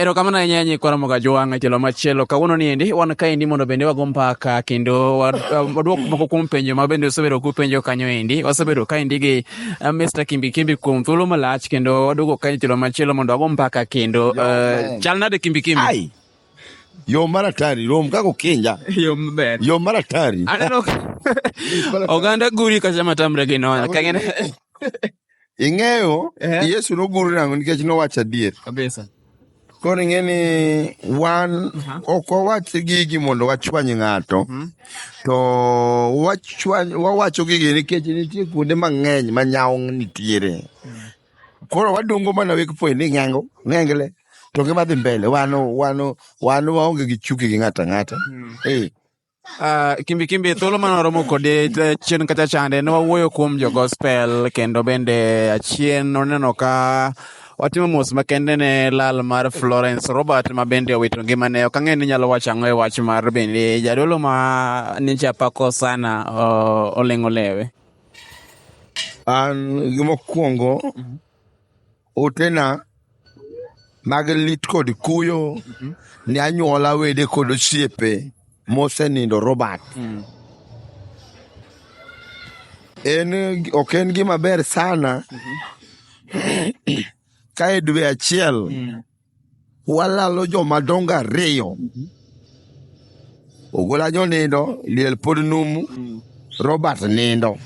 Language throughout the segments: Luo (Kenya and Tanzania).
Erokamano ahinya nyikwa Ramoga Jwang' e tielo machielo. Kawuono ni endi wan kaendi mondo bende wago mbaka kendo wadwok moko kuom penjo ma bende usebedo kupenjo kanyo endi. Wasebedo kaendi gi eh, Mr. Kimbi Kimbi kuom thuolo malach kendo waduogo kae tielo machielo mondo wago mbaka kendo. Eh, chal nade Kimbi Kimbi? Ai. Yo maratari, rom kako kinja. Yo maber. Yo maratari. Aneno oganda guri kacha matamre gi noya. Kangene. Ing'eyo Eh. Yesu nogur nang'o nikech nowacho adier. Kabisa. Koro ing'e ni wan ok wawach gigi mondo wachwany ng'ato, to wachwany- wawacho gigi nikech nitie kuonde mang'eny ma nyawo nitiere. Koro wadongo mana wek point ni ng'ango, ng'engle, to ngima dhi mbele. Wano, wano, wano waonge gi chuki gi ng'ato ang'ata. Eh, Uh, kimbi kimbi thuolo mane waromo kode chien kacha chande ne wawuoyo kuom jo gospel kendo bende achien oneno ka watimo mos makende ne lal mar Florence Robert ma bende owito ngimane. Ok ang'e ni nyalo wacho ang'o e wach mar bende jadolo ma ninche apako sana uh, oleng'o lewe. An gimokwongo otena mag lit kod kuyo ne anyuola wede kod osiepe mosenindo Robert. En ok en gima ber sana ka e dwe achiel Walalo joma dongo ariyo. Ogola jo nindo, liel pod numu, Robert nindo.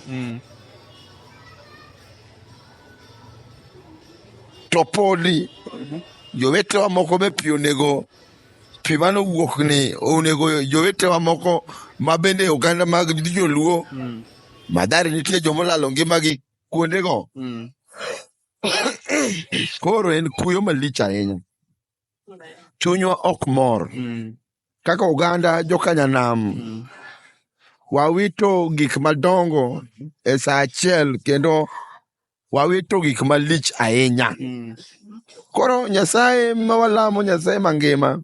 To podi jowetewa moko be pi onego pi mane owuok ni onego jowetewa moko ma bende oganda mag joluo madhari nitie joma olalo ngimagi kuondego koro en kuyo malich ahinya chunywa ok mor Mm. kaka oganda jokanyanam Mm. wawito gik madongo e saa achiel kendo wawito gik malich ahinya Mm. koro nyasaye ma walamo nyasaye mangima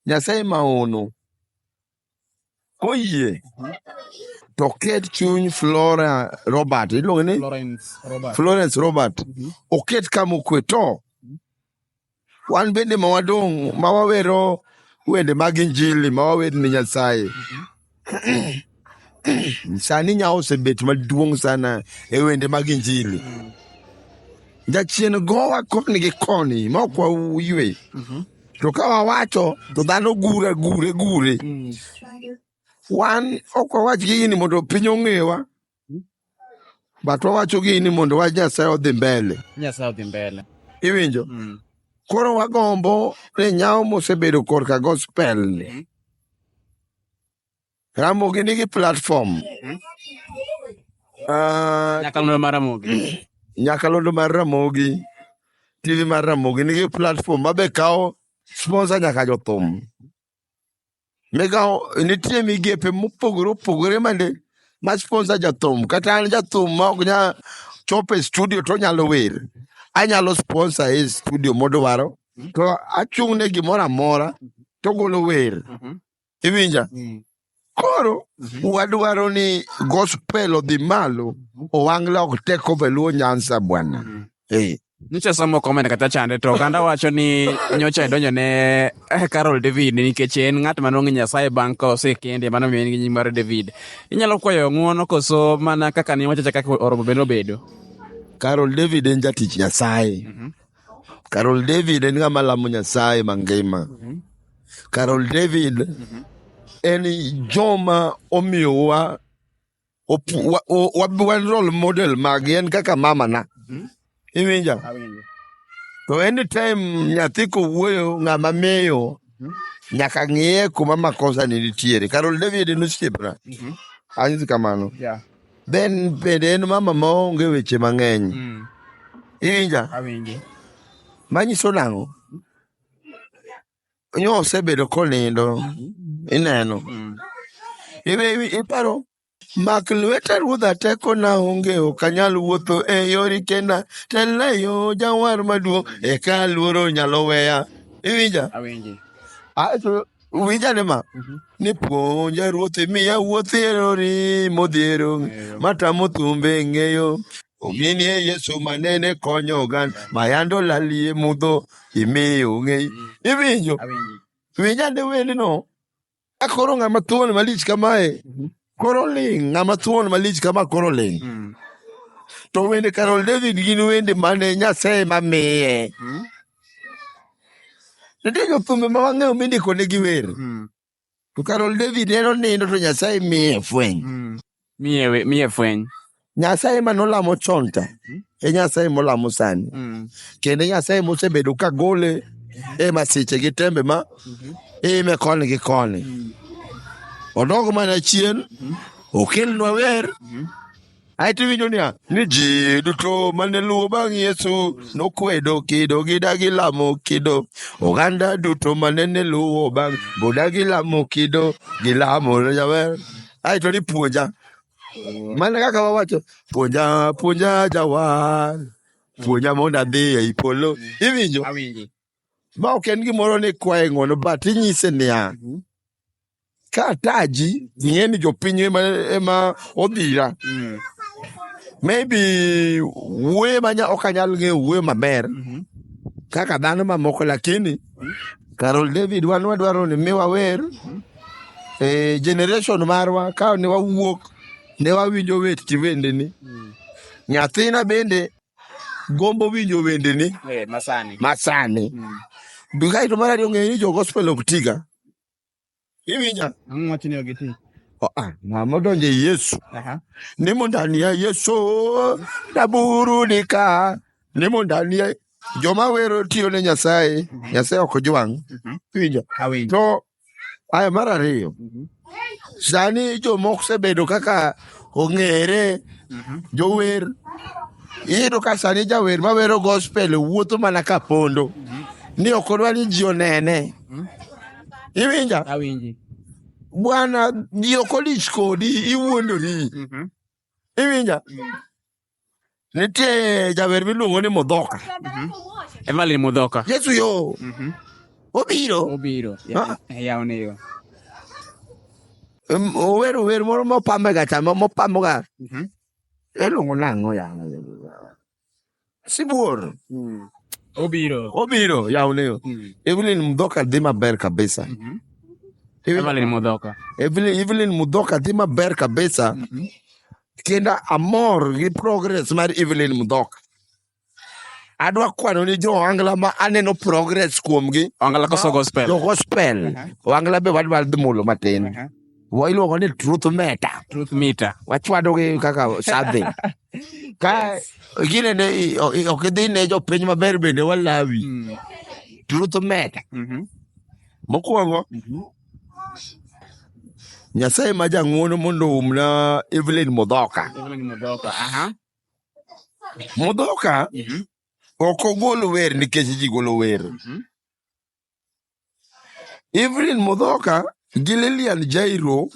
nyasaye maono Koyie to ket chuny Flora Robert, iluonge ni Florence Robert. Florence Robert, Mhm. oket kama okwe to wan bende ma wadong' ma wawero wende mag injili ma wawer ne Nyasaye. Sani nya osebet maduong' sana e wende mag injili. Jachien gowa koni gi koni ma ok waywe. to ka wawacho to dhano gure gure gure wan ok wawach gigi ni mondo piny ong'ewa but wawacho gigi ni mondo wach nyasaye odhi mbele nyasaye odhi mbele iwinjo mm. koro wagombo ni nyawo mosebedo korka gospel ni mm. Ramogi nigi platform Ah, Nyakalondo mar Ramogi. nyakalondo mar Ramogi, TV mar Ramogi nigi platform ma be kawo sponsor nyaka jothum. Migawo nitie migepe mopogore opogore mande ma sponsor jathum. Kata an jathum ma ok nya chopo e studio to onyalo wer. Anyalo sponsor e studio modwaro to achung' ne gimoro amora to ogolo wer. iwinja Mm. koro Mhm. wadwaro ni gospel odhi malo owangla ok take over luo nyanza bwana Mm. Eh, nyocha asomo comment kata chande to oganda wacho ni nyocha idonjo ne eh, carol david nikech en ng'at manong'e nyasaye bang' ka osekende mano miyo en gi nying mar david inyalo kwayo ng'uono koso mana kaka ne wachacha kaka oromo bende obedo carol david en jatich nyasaye Carol David en ng'ama lamo Nyasaye mangima. Carol David en joma omiyowa opu- wa- o- wa- wan role model magi en kaka mamana. Iwinja? Awinjo. To anytime nyathi kowuoyo ng'ama miyo nyaka ng'iye kuma makosa ni nitiere. Carol David en osiepna. Anyisi kamano. Yeah. Ben bende en mama ma onge weche mang'eny. Mm. Iwinja? Awinji. Manyiso nang'o? Nyo osebedo konindo. Ineno. Mm. Iwe iparo mak lweta ruodha teko na onge ok anyal wuotho e yori kenda telna e yo jawar maduong' eka luoro nyalo weya. Iwinja? Awinji. Aeto Uwinja ne ma? Mhm. Ni puonja ruoth imiya wuoth e rori modhiero matamo thumbe ng'eyo. Ominie Yesu manene konyo oganda mayando lalie mudho imiyo ng'eyo. Iwinjo? Awinji. Winja ne wendno. Akoro ng'ama thuon malich kamae. Mhm. Koro ling' ng'ama thuon malich kama koro ling'. Mm. To wende Carol David gin wende mane Nyasaye ma miye. Mm. Nitie jothumbe ma wang'eyo mindiko ne gi wer. Mm. To Carol David en onindo to Nyasaye miye fweny. Mm. Miye miye fweny. Nyasaye ma nolamo chon ta e Nyasaye molamo sani Mm. kendo e Nyasaye mosebedo ka gole e masiche gi tembe ma ime koni gi koni. Odog mana chien, okelnwa wer, aeto iwinjo niya ni ji duto mane luwo bang' Yesu nokwedo kido gidagi lamo kido. Oganda duto mane ne luwo bang' bodagi lamo kido gilamo jawer. Aeto ni puonja Mana kaka wawacho, puonja, puonja jawar, puonja mondo adhi ei polo. Iwinjo? Awinji. Ma ok en gimoro ni kwaye ng'wono, but inyise niya, Mhm. ka ataji, ing'e ni jopiny ema, ema odhira. Mm. Maybe wuoye manya ok anyal ng'eyo wuoyo maber Mhm. kaka dhano mamoko, lakini Carol David wan wadwaro ni mi wawer e generation marwa ka ne wawuok ne wawinjo wet wendeni. Nyathina bende gombo winjo wendeni Eh, masani. masani. Kae to mar ariyo ng'eyo ni jo gospel ok tiga. Iwinja? Ang'o wachni ogi ti? Ah, ng'ama odonjo e Yesu nimo ndani ya Yesu naburudika nimo ndani ya joma wero tiyo ne Nyasaye mhm. Nyasaye ok ojwang' mhm. winjo to aya mar ariyo mhm. sani joma osebedo kaka ong'ere jower iyudo ka sani jawer mawero gospel wuotho mana ka pondo ni ok odwa ni ji onene Iwinja? Awinji. Bwana ji ok odich kodi, iwuondori. Mhm. Iwinja? Nitie jawer miluongo ni Modhoka. Evelyn Mudhoka. Yesu yo, Mhm. obiro. Obiro. Ah. Yawne yo. Em, Ower ower moro mopamega cha, mo- mopamoga. Mhm. Iluongo nang'o yawa? Sibuor. Mm. Obiro. Obiro, yawne yo. Mm. Evelyn Mudhoka dhi maber kabisa. Mm -hmm. Evelyn Mudhoka. Evelyn, Evelyn Mudhoka dhi maber kabisa. Mm -hmm. Kenda amor gi progress mar Evelyn Mudhoka. Adwa kwano ni jo Angla ma aneno progress kuomgi. Angla koso gospel. Jo gospel. Uh -huh. Angla be wadwa dhi mulo matin. Uh -huh. wa iluongo ni truth meta truth mita wachwadogi kaka sadhi ka gine ne i- o- i- ok idhi ne jopiny maber bende walawi Mm. truth meta Mhm. mokwongo Mhm. nyasaye ma jang'wono mondo oumna evelyn mudhoka Evelyn Mudhoka, aha. mudhoka Mhm. ok ogol wer nikech ji golo wer Mhm. Evelyn Mudhoka gi Lilian Jairo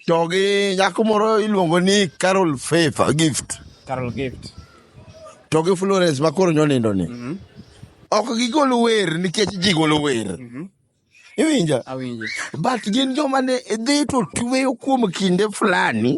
to gi nyako moro iluongo ni Carol Faith Gift Carol Gift. to gi Florence ma koro nyonindo ni. Ok gigol wer nikech ji golo wer. Iwinja? Awinji. But gin joma ne dhi to tweyo kuom kinde fulani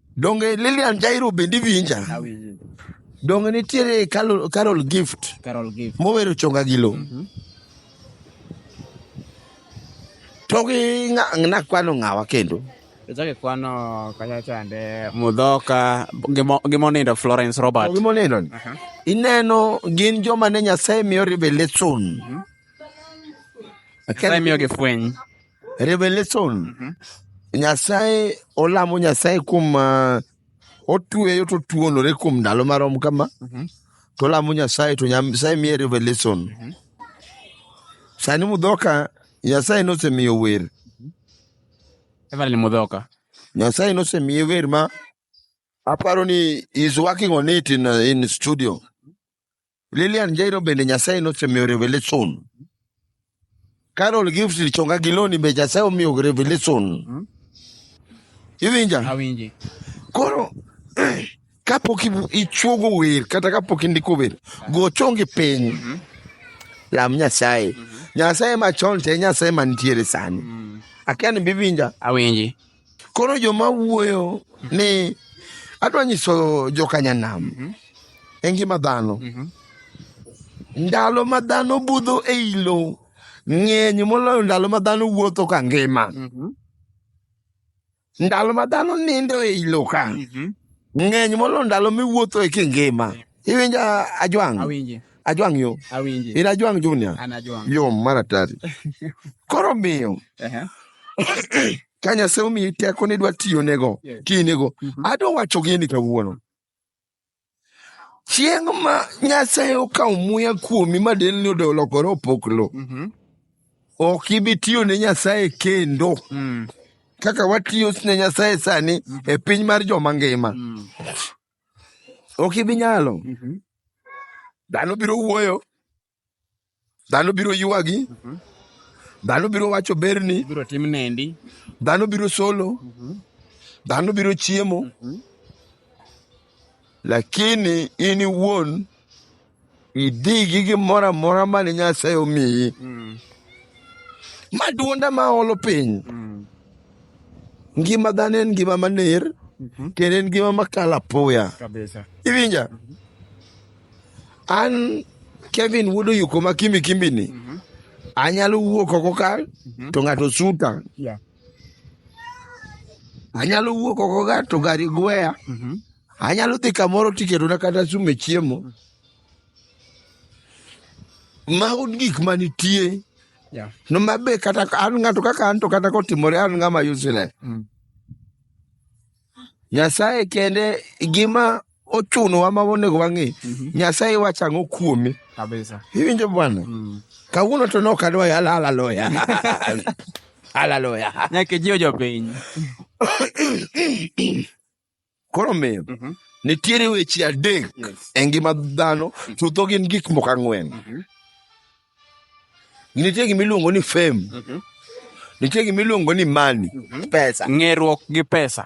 Donge Lilian Jairo bende iwinja? Awinji. Donge nitiere Carol, Carol Gift Carol Gift. mowero chonga gi lo? To gi ng'a- nakwano ng'awa kendo. Ichake kwano kanya chande Mudhoka gimo- gimonindo Florence To Robert. gimoneno ni, ineno gin joma ne Nyasaye miyo revelation. Nyasaye miyogi fweny. revelation Mhm. nyasaye olamo nyasaye kuom ah, otueyo to tuonore kuom ndalo marom kama Mhm. to olamo nyasaye to nyasaye miye revelation Mhm. sani mudhoka nyasaye nosemiyo wer Evelyn Mudhoka. nyasaye nosemiye wer ma aparo ni is working on it in, uh, in studio Lilian Jairo bende Nyasaye nosemiyo revelation. Carol Gift Lichonga Giloni be Nyasaye omiyo revelation. Hmm? Iwinja? Awinji. Koro kapok ichuogo wer kata kapok indiko wer, go chongi piny. Hmm? Lam Nyasaye. Hmm? Nyasaye machon te Nyasaye mantiere sani. Akia ni biwinja? Awinji. koro joma wuoyo ni adwa nyiso jokanyanam mhm. e ngima dhano mhm. ndalo ma dhano budho e i lo ng'eny moloyo ndalo ma dhano wuotho ka ngima mhm. ndalo ma dhano nindo e i lo ka ng'eny moloyo ndalo miwuotho e kingima Iwinjo a- ajwang'? Awinji. Ajwang' yo. Awinji. In ajwang' junior. An ajwang'. Yo mar atari. Koro miyo Ehe. ka Nyasaye omiyi teko ni dwa tiyonego, Yes. tiyinego. Mhm. Adwa wacho gini kawuono. Chieng' ma Nyasaye okawo muya kuomi ma delni odo olokore opoklo, Mhm. ok ibi tiyo ne Nyasaye kendo Mm. kaka watiyo ne Nyasaye sani e piny mar joma ngima. Mm. ok ibi nyalo Mhm. dhano biro wuoyo dhano biro ywagi Mhm. dhano biro wacho berni Ibiro tim nendi. dhano biro solo Mhm. dhano biro chiemo Mhm. lakini in iwuon idhi gi gimoro amora mane nyasaye omiyi maduonda ma olo piny ngima dhano en ngima maner kendo en ngima makalo apoya kabisa iwinja an kevin wuod oyuko ma kimbi kimbini anyalo wuok oko ka to ng'ato suta yeah anyalo wuok oko ga to gari gweya Mhm. anyalo dhi kamoro tiketona kata sume chiemo mago gik manitie Yeah. no mabe kata an ng'ato kaka an to kata kotimore an ng'ama useless Mm. Nyasaye kende gima ochunowa ma onego wang'e. Nyasaye wacho ang'o kuome? Kabisa. Iwinjo bwana? Mm. Kawuono to nok adwa yala haleluya. Haleluya. Nyaka jiwo jopiny. Koro miyo Mhm. nitiere weche adek Yes. e ngima dhano chutho gin gik moko ang'wen Mhm. Nitie gima iluongo ni fame. Mhm. Nitie gima iluongo ni money. Mhm. Pesa. Ng'eruok gi pesa.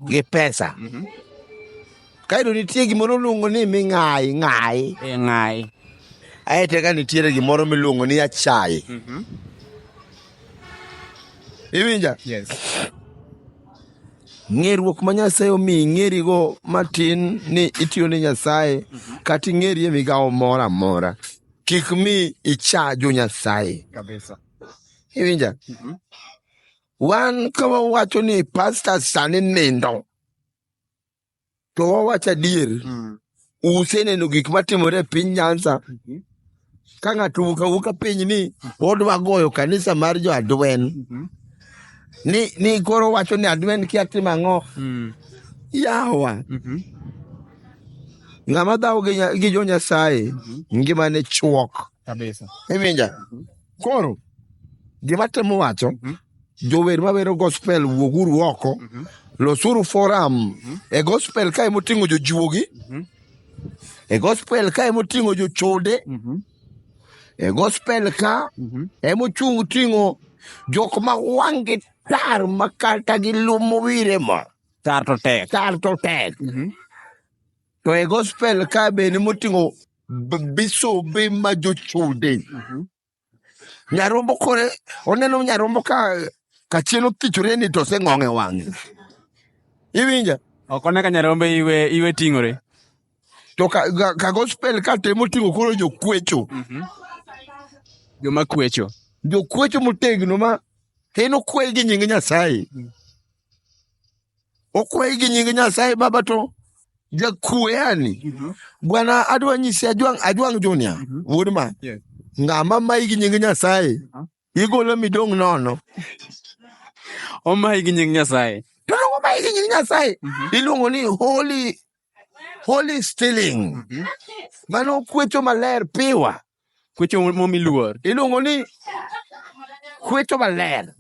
Gi pesa. Mhm. Kaeto nitie gimoro luongo ni ming'ayi ng'ayi. E ng'ayi. Aeto ka nitiere gimoro miluongo ni achayi. Mhm. Iwinja? Yes. Ng'eruok ma Nyasaye omi ing'erigo matin ni itiyo ne Nyasaye mhm. kata ing'eri e migawo moro amora. kik mi icha jo Nyasaye. Kabisa. Iwinja? Mhm. Wan ka wawacho ni pasta sani nindo, to wawacho adier, Mm. useneno gik matimore e piny Nyanza Mhm. ka ng'ato wuok awuoka piny ni odwa goyo kanisa mar jo Adwen Mhm. ni, ni koro wacho ni Adwen kia timo ang'o Mm. yawa Mhm. Ng'ama dhawo gi, nya- gi jo Nyasaye ngimane chuok. Kabisa. Iwinja? Koro gima temo wacho jower mawero gospel wuoguru oko losuru forum e gospel kae moting'o jojuogi e gospel kae moting'o jochode e gospel ka emochung' ting'o jok ma wang'gi tar ma kata gilumo wire ma Carto Tech. Carto Tech. Mm -hmm. To e gospel ka bende moting'o bisobe ma jochode. Mm -hmm. Nyarombo kore, oneno nyarombo ka kachiel othichore ni to oseng'ong'e wang'e. Iwinja? Ok one ka nyarombo iwe, iwe ting'ore. To ka, ka, ka gospel ka temo ting'o koro jokwecho. Mm -hmm. Joma kwecho. Jokwecho motegno ma en okwe gi nying Nyasaye. Mm -hmm. okwayi gi nying nyasaye baba to jakueyani Mhm. bwana adwa nyisi ajwang' ajwang' junia Mhm. wuod ma Yes. ng'ama mayi gi nying nyasaye Mhm. igolo midong' nono Omayi gi nying Nyasaye. to dongo mayi gi nying nyasaye Mhm. iluongo ni holy holy stealing Mhm. mano okwecho maler piwa Kwecho momi luor. Iluongo ni kwecho maler.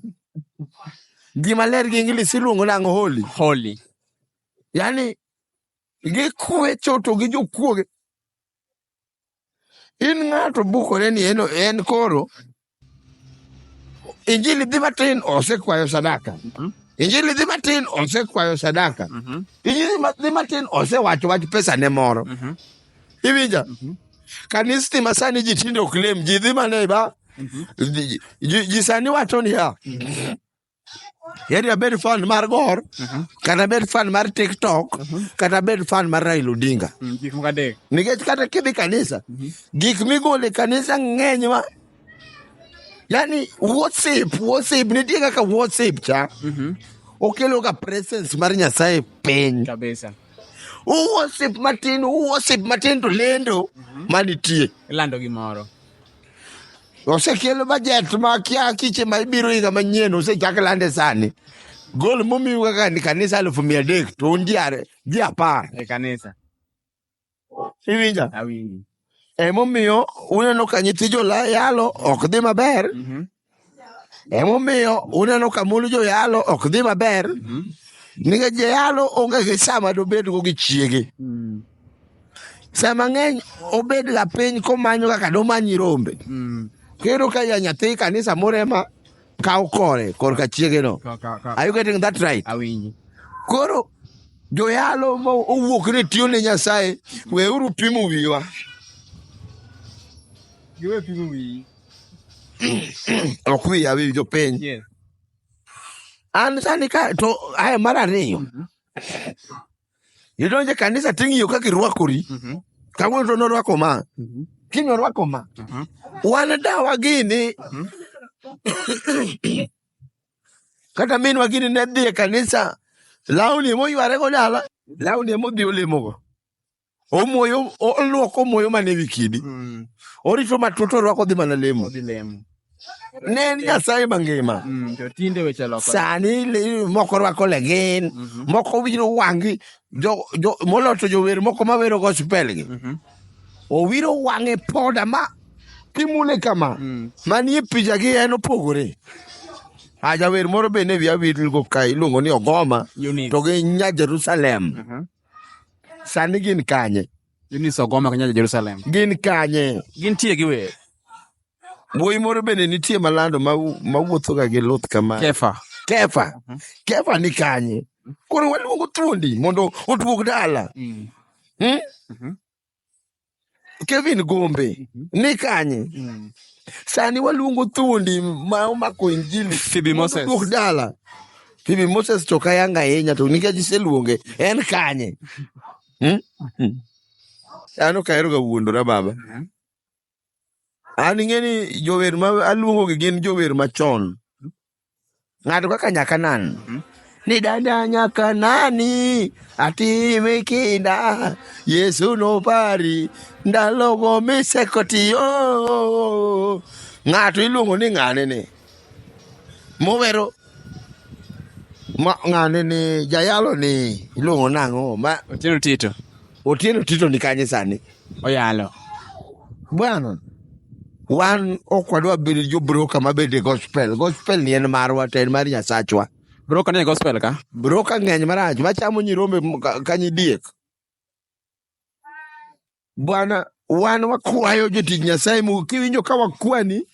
Gima ler gi English iluongo nang'o holy. Holy. Yani gikwecho to gi jokuoge. In ng'ato bukore ni en koro Injili dhi matin osekwayo sadaka. Mhm. Injili dhi matin osekwayo sadaka. Mhm. Injili ma- dhi matin osewacho wach pesa ne moro. Mhm. Iwinja? Mhm. Kanisni ma sani ji tinde ok lem, ji dhi mana e ba. Mhm. Ji- Ji ji sani wacho niya, Yaani abed fan mar Gor, kata abed fan mar TikTok, kata abed fan mar Raila Odinga. Mm, Gik moko adek. Nikech kata kidhi kanisa, gik migole kanisa ng'eny ma yaani worship, worship, nitie kaka worship cha. Okelo ka presence mar Nyasaye piny. Kabisa. Worship matin, worship matin to lendo manitie. Ilando gimoro. osekelo bajet ma kia kiche ma ibiro higa manyien osechak lande sani gol momiu kaka ni kanisa alufu mia adek to un ji are- ji apar e kanisa iwinja awinji emomiyo uneno ka nyithi jolayalo ok dhi maber Mhm. Emomiyo uneno ka mond joyalo ok dhi maber mm-hmm. nikech joyalo onge gi sama dobedgo gi chiege. Mm. Sama ng'eny obed ga piny komanyo kaka domanyi rombe. Mm. Kendo ka ya nyathi kanisa moro ema kawo kore korka chiegeno. Are you getting that right? Koro joyalo mowuok ni tiyo ne Nyasaye weuru pimo wiwa. Giwe pimo wiyi. ok wiya wi jopiny Yes. an sani ka to aya mar ariyo Mhm. idonje kanisa ting'iyo kaka irwakori Mhm. kawuono to norwako ma Mhm. kiny orwako ma Mhm. wan dawa gini Mhm. kata minwa gini ne dhi e kanisa lawni emoyware go dala lawni emodhi olemogo omoyo oluoko omoyo mane wi kidi mm. orito matut orwako dhi mana lemo ne en nyasaye mangima mm, sani moko rwako legin mhm. moko wiro wangi moloto jower moko mawero gospel gi mhm. owiro wange poda ma kimule kama mm. manie picha gi en opogore ajawer moro bende wiya wilgo ka iluongo ni ogoma to gi nya jerusalem mhm. Sani gin kanye? Gin ni Sogoma kanya Jerusalem. Gin kanye? Gin tie gi wer. Wuoyi moro bende nitie malando mawuotho ga gi luth kama. Kefa. Kefa. Mhm. Kefa ni kanye? Koro waluongo thuondi mondo oduog dala. Mm. Hmm? Mhm. Kevin Gombe mm -hmm. ni kanye mm. Sani waluongo thuondi ma omako injili Phoebe Moses duok dala Phoebe Moses to kayanga ahinya to nikech iseluonge en kanye hmm? hmm. An ok aheroga wuondora baba mm -hmm. An ing'e ni jower ma aluongo gi gin jower machon. Ng'ato kaka Nyakanan. Ni dada Nyakanani atime kinda Yesu nopari ndalogo misekotiyo. Ng'ato iluongo ni ng'ane ni. Mowero ma ng'ane ni jayalo ni iluongo nang'o ma Otieno Tito. Otieno Tito ni kanye sani? oyalo. Bwana, wan ok wadwa bedo jo broka ma bende gospel. Gospel ni en marwa to en mar Nyasachwa. Broka ni e gospel ka? Broka ng'eny marach machamo nyirombe m- ka- ka nyidiek. Bwana, wan wakwayo jotich Nyasaye mu kiwinjo ka wakwani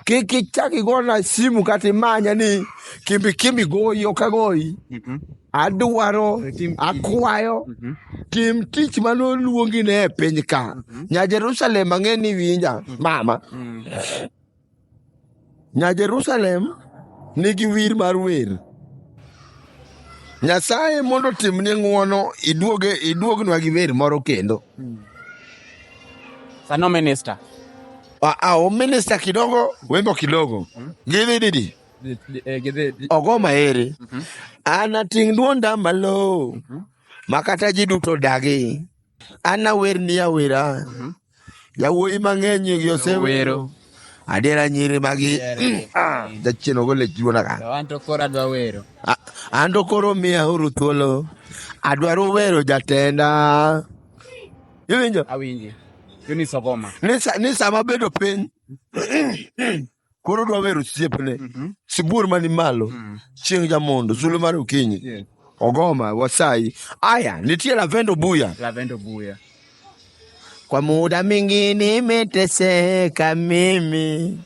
kik ichak igona simu kata imanya ni kimbi kimbi goyi ok agoyi Mhm. adwaro Tim- akwayo Mhm. tim tich mane oluongi ne e piny ka nya jerusalem ang'e ni winja mama Mm. nya jerusalem nigi wir mar wer nyasaye mondo otimni ng'wono iduoge iduognwa gi wer moro kendo Sano minister. Ah, ah, o minister kidogo wembo kidogo gidhi didi Di- di- eh, gidhi- di- ogo maeri anating' duonda malo makata ji duto dagi anawer ni awera yawuoyi mang'eny gi osewero Wero. adiera nyiri magi Ah, jachien ogo lech duonda ka To an to koro adwa wero. A- an to koro miya uru thuolo adwaro wero jatenda Iwinjo? Awinji. Yoni sogoma. Ni sa- ni sama bedo piny koro dwa wero osiepne Mhm. sibuor mani malo Mm. chieng' jamondo sulwe mar okinyi Yes. ogoma wasayi aya nitie lavendo buya Lavendo buya. kwa muda mingi nimeteseka mimi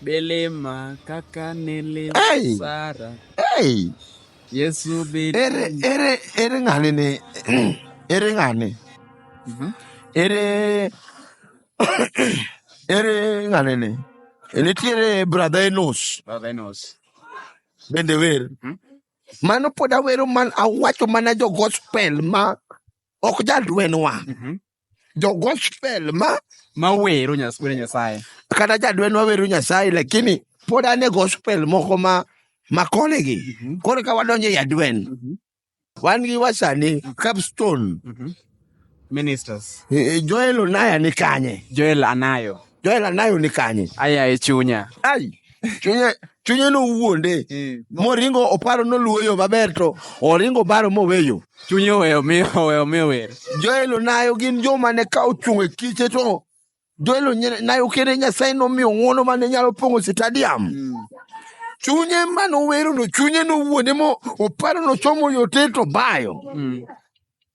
Delema kaka nele Hey! Sara. hey, Yesu bit. Ere ere ere ng'ani ni ere ng'ani Mhm. ere ere ng'ani ni E nitiere brother Enos Brother Enos. bende wer Mhm. mano pod awero man awacho mana jo gospel ma ok jadwenwa Mhm. jo gospel ma ma wero nyas wero nyasaye kata jadwen wawero nyasaye lakini pod ane gospel moko ma makole gi koro ka wadonjo e jadwen wan gi wasani capstone ministers eh, joel onaya ni kanye joel anayo Joel Anayo ni kanye? Aya e chunya. Ai, chunye chunye nowuonde Eh, moringo oparo noluwo yo maber to oringo baro moweyo. Chunye oweyo mi oweyo mi wer. Joel Onayo gin joma ne ka ochung' e kiche to Joel Onayo kende Nyasaye nomiyo ng'wono mane nyalo pong'o stadium. Chunye mane owerono, chunye nowuonde mo oparo nochomo yote to bayo. Mm.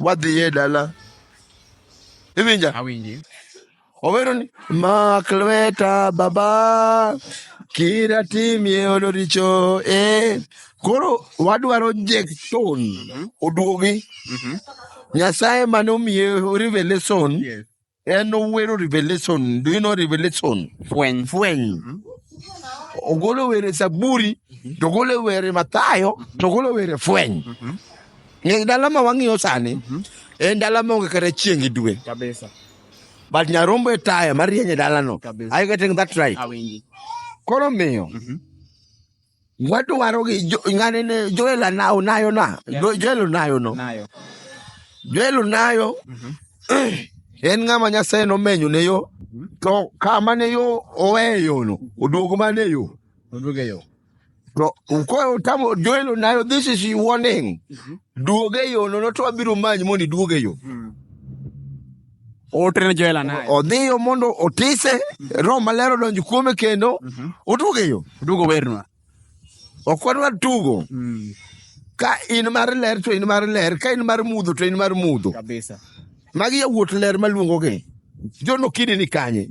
wadhiye e dala iwinja awinji owero ni mak lweta baba kira timie ono richo e koro wadwaro jekton mhm. oduogi mhm. nyasaye mane omiye revelation En owero Revelation. Do you know Revelation? Fweny. Fweny. Ogolo were Zaburi, to ogolo were Mathayo, to ogolo were Fweny. Ng'e dala ma wang'iyo sani, en dala ma onge kata chieng' gi dwe. Kabisa. But Nyarombo e taya marieny e dalano. Kabisa. Are you getting that right? Awinji. Koro miyo, Wadwaro gi jo- ng'ane ne Joel ana- onayo na Jo- Joel onayo no Nayo. Joel onayo en ng'ama Nyasaye nomenyo ne yo to kama ne yo oweye yono oduogo mane yo Oduoge yo. to koro tamo Joel onayo this is your warning duoge yono no to abiro manyi mondo iduoge yo Otre ne Joel anaye. Odhiyo mondo otise, Roho Maler odonjo kuome kendo, otugo e yo. Otugo wernwa. Ok wadwa tugo. Mm. Ka in mar ler to in mar ler, ka in mar mudho to in mar mudho. Kabisa. Magi yawuot ler maluongogi. Jono kidi ni kanye.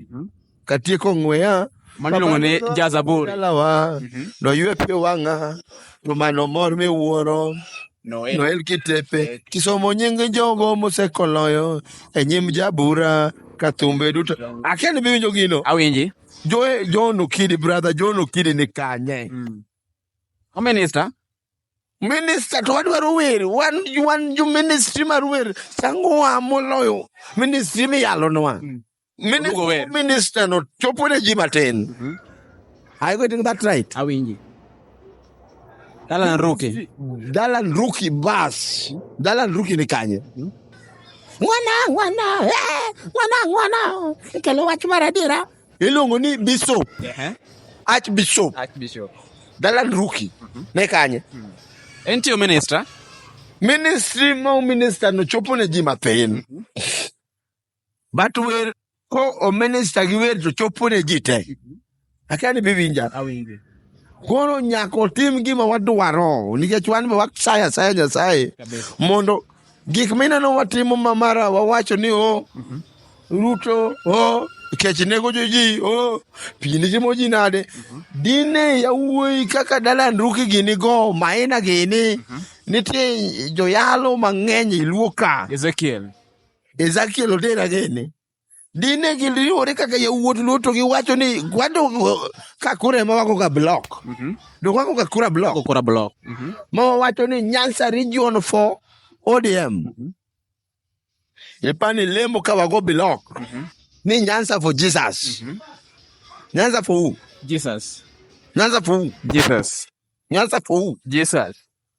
katieko ng'weya Mano iluongo ni jazaburi. dalawa Mhm. noywe pio wang'a to mano mor miwuoro Noel. noel kitepe kisomo nying jogo mosekoloyo e nyim jabura ka thumbe duto akia ni biwinjo gino Awinji. Jo- john okidi brother john okidi ni kanye O minister. minista to wadwaro wer wan wan jo ministry mar wer changowa moloyo ministry miyalonwa Mini- Oduogo wer. Minister no chopo ne ji matin. Are you getting that right? Awinji. Dalan Ruki. Dalan Ruki bas. Dalan Ruki ni kanye? Mwana, mwana, eh, mwana, mwana. Kelo wach mar adiera. Iluongo ni Bishop, Ehe. Archbishop. Archbishop. Dalan Ruki ne kanye? En tiyo minister. Ministry ma minister no chopo ne ji matin. But wer ko o minister gi wer to chopo ne ji te. Akia ni biwinja. Awinjo. Koro nyaka otim gima wadwaro nikech wan be wasayo asaya Nyasaye Kabisa. mondo gik mineno watimo ma mara wawacho ni o Ruto o kech nego joji o pi nitimo ji nade dine yawuoyi kaka Dalan Ruki gini go Maina gini nitie joyalo mang'eny iluo ka Ezekiel. Ezekiel otera gini. Dine giriwore kaka yawuot luo to giwacho ni kwado ka kura ema wako ga block. Mhm. To wako ga kura block. Go kura block. Mhm. Ma wawacho ni Nyanza region for ODM. Mhm. Ipani lemo ka wago block. Mhm. Ni Nyanza for Jesus. Mhm. Nyanza for who? Jesus. Nyanza for who? Jesus. Nyanza for who? Jesus.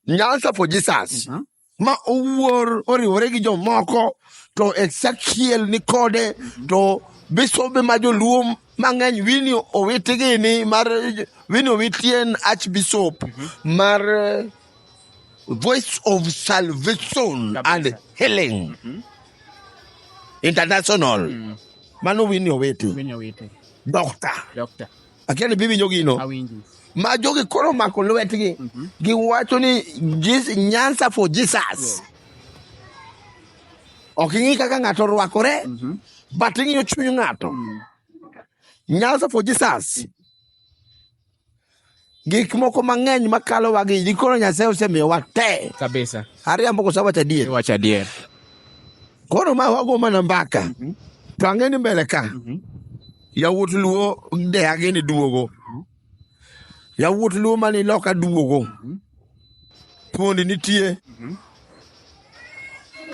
Nyanza for Jesus. Mhm. Ma owuor oriwore gi jomoko to Ezekiel ni kode mhm. to bisobe ma joluo mang'eny wini owiti gini mar wini owiti en archbishop mhm. mar eh, voice of salvation and healing international mano wini owiti doctor Akia ni biwinjo gino. Awinji. Ma jogi koro omako lwetgi. Mhm. Giwacho ni Jesus, Nyanza for Jesus. Ok ing'i kaka ng'ato orwakore, Mhm. but ing'iyo chuny ng'ato. Mm. Nyanza for Jesus. Gik moko mang'eny makalo wagi, ji koro Nyasaye osemiyowa te. Kabisa. Ariambo koso awacho adier. Iwacho adier. Koro ma wago mana mbaka. Mhm. To ang'e ni mbele ka. Mhm. Yawuot Luo deage ni duogo. Yawuot Luo mani loka duogo. Thuondi nitie.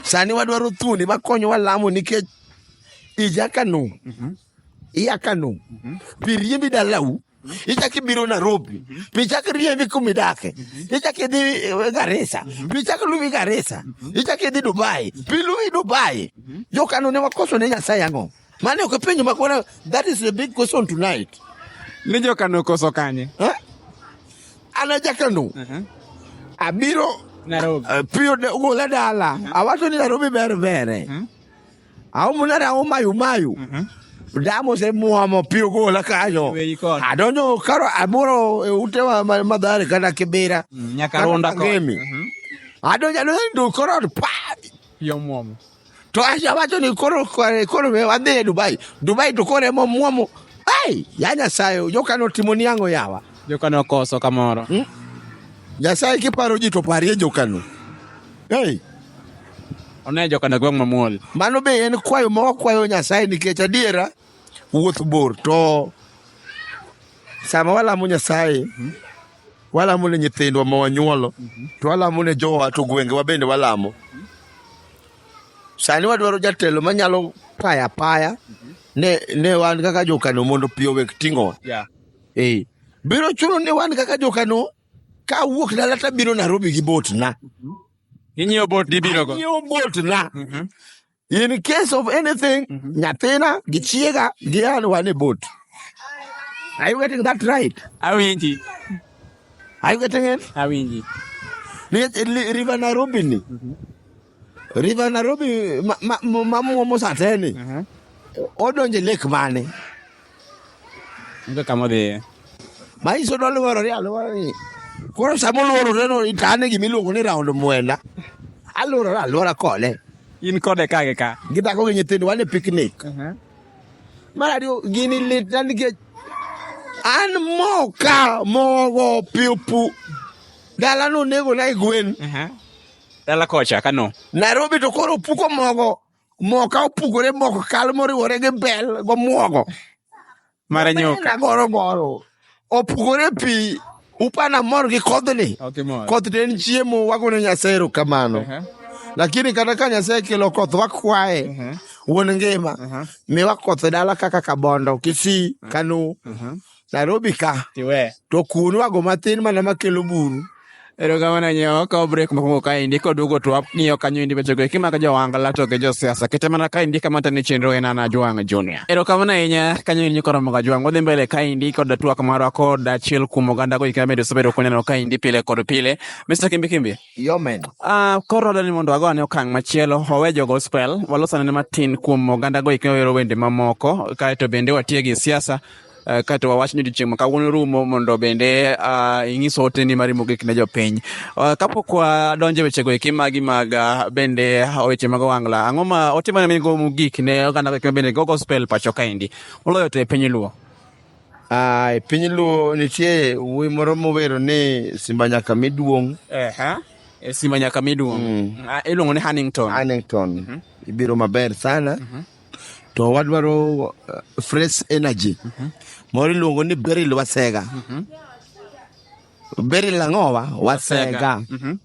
Sani wadwaro thuondi makonyowa lamo nikech ija Kano. Iya Kano. Pi riembi dalau. Ichak ibiro Nairobi. Pi chak riembi kuma idake. Ichak idhi eh, Garissa. Pi chak luwi Garissa. Ichak idhi Dubai. Pi luwi Dubai. Jo Kano ne wakoso ne Nyasaye ang'o? Mane ok penjo makwana, that is the big question tonight. Ni jo Kano koso kanye? Eh? Ana ja Kano. Uh -huh. Abiro Nairobi. Uh, piyo de ugo la dala. Uh -huh. Awato ni Nairobi ber bere. Uh -huh. Au munara au mayu mayu. Uh -huh. damo se muamo piyo go la kayo adonyo karo amoro e ute wa madhare kana kibera mm, nyakaronda ko mm-hmm. adonyo adonyo koro pa yo muamo To Asha wacho ni koro kore- koro we wadhi e Dubai. Dubai to koro emo muomo. Ai, ya Nyasaye, joka notimo ni ang'o yawa. Joka nokoso kamoro. Hmm? Nyasaye kiparo ji to parie jokano. Hey. One joka na gweng' mamuol. Mano be en kwayo ma wakwayo Nyasaye nikech adiera wuoth bor to sama walamo Nyasaye Walamo ne nyithindwa ma wanyuolo, to walamo ne jowa, to gwengewa bende walamo. Sani wadwaro jatelo manyalo paya apaya ne, ne wan kaka jokano mondo pi owek ting'owa. Yeah. Eh, biro chuno ni wan kaka jokano ka awuok dala to abiro Nairobi gi botna. Inyiewo bot dibinogo. Nyiewo botna. In case of anything, mm-hmm. nyathina gi chiega gi an wan e boat. Are you getting that right? Awinji. Are you getting it? Awinji. River Nairobi ni. Mm-hmm. River Nairobi ma ma ma mosateni. Mm-hmm. Odonje lake mane? Onge kama odhiye. Ma iso noluorore e aluorani. Koro sama oluorore no itane gima iluongo ni raond mwenda. Aluorore aluora kode. In kode ka gi ka. Gi dhako gi nyithindo wan e picnic. Mar ariyo gini litna nikech an moka mogo piupu. Dala nonego na e gwen. Dala kocha Kano. Nairobi to koro opuko mogo. moo ka opugore moko kal moriwore gi bel gomwogo mara nyuka goro goro opugore pi upana mor gi kodhni okay, koth to en chiemo wagone nyasaye erokamano uh -huh. lakini kata ka nyasaye kelo koth wakwaye uh -huh. wuon ngima uh -huh. miwa koth dala kaka kabondo kisii uh -huh. kanu uh -huh. Nairobi ka. Tiwe. To kunu ago matin mana makelo buru. Erokamano nyewo ka break mokwongo kaendi koduogo to wang'iyo kanyo endi weche go kimako jowangla to gi josiasa kete mana kaendi kama tani chenro en ana Ajwang' Junior. Erokamano ahinya kanyo endi koromo ga Ajwang' wadhi mbele kaendi kod twak marwa kod achiel kuom oganda go kama bende osebedo koneno kaendi pile kod pile Mr. Kimbi Kimbi. Yomen. Uh, koro dani mondo wago ane okang' machielo wawe jo gospel walos ane matin kuom oganda go ikne wero wende mamoko kaeto bende watie gi siasa uh, kaeto wawach ni odiochieng' makawuono rumo mondo bende uh, ing'is ote ni mari mogik ne jopiny uh, kapok wadonje wechego eki magi mag uh, bende weche mag owangla ang'o ma ote mane migo mogik ne oganda go ikne bende go gospel pacho kaendi moloyo to e piny luo Ah, e piny luo nitie wuoyi moro mowero ni simba nyaka mi duong'. Ehe. E Simba nyaka mi duong'. Mm. Ah, Iluongo ni Hannington. Hannington ibiro maber sana to wadwaro uh, fresh energy moro iluongo ni Beryl Wasega Beryl ang'owa Wasega Mhm.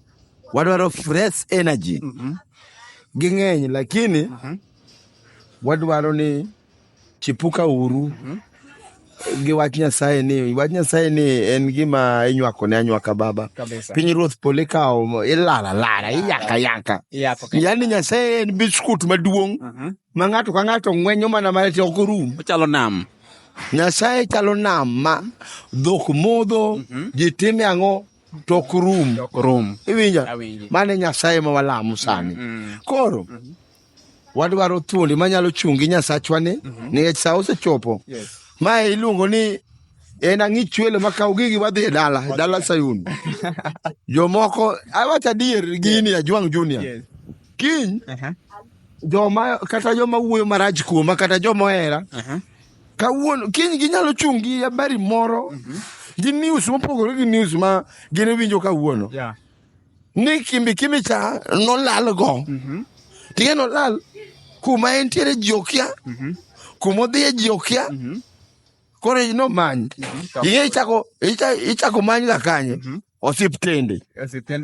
wadwaro fresh energy ging'eny lakini wadwaro ni Chipuka uru mhm. gi wach Nyasaye ni wach Nyasaye ni en gima inywako ne anywaka baba. Piny ruoth pole kawo ilala lala iyaka yaka. Yaani Nyasaye en biskut maduong' mhm. ma ng'ato ka ng'ato ng'wenyo mana mana to ok orum. Ochalo nam. Nyasaye chalo nam ma dhok modho mhm. ji time ang'o to ok rum. Iwinja? Mane Nyasaye ma walamo sani. Koro. wadwaro thuondi manyalo chungi nyasachwa ni mhm. nikech saa osechopo ma iluongo ni en ang'i chwelo ma kaw gigi wadhi e dala e dala sayun jomoko awach adier gini ajwang' junior kiny uh-huh. joma kata joma wuoyo marach kuoma kata joma ohera uh-huh. kawuono kiny ginyalo chung' gi habari moro mhm. gi news mopogore gi news ma gin winjo kawuono ni kimbi kimbi cha nolal go mm-hmm. tiye nolal kuma entiere ji okia mm-hmm. kuma odhiye ji okia mm-hmm. koro nomany mm-hmm. iye ichako ichako many ga kanye mm-hmm. osiptende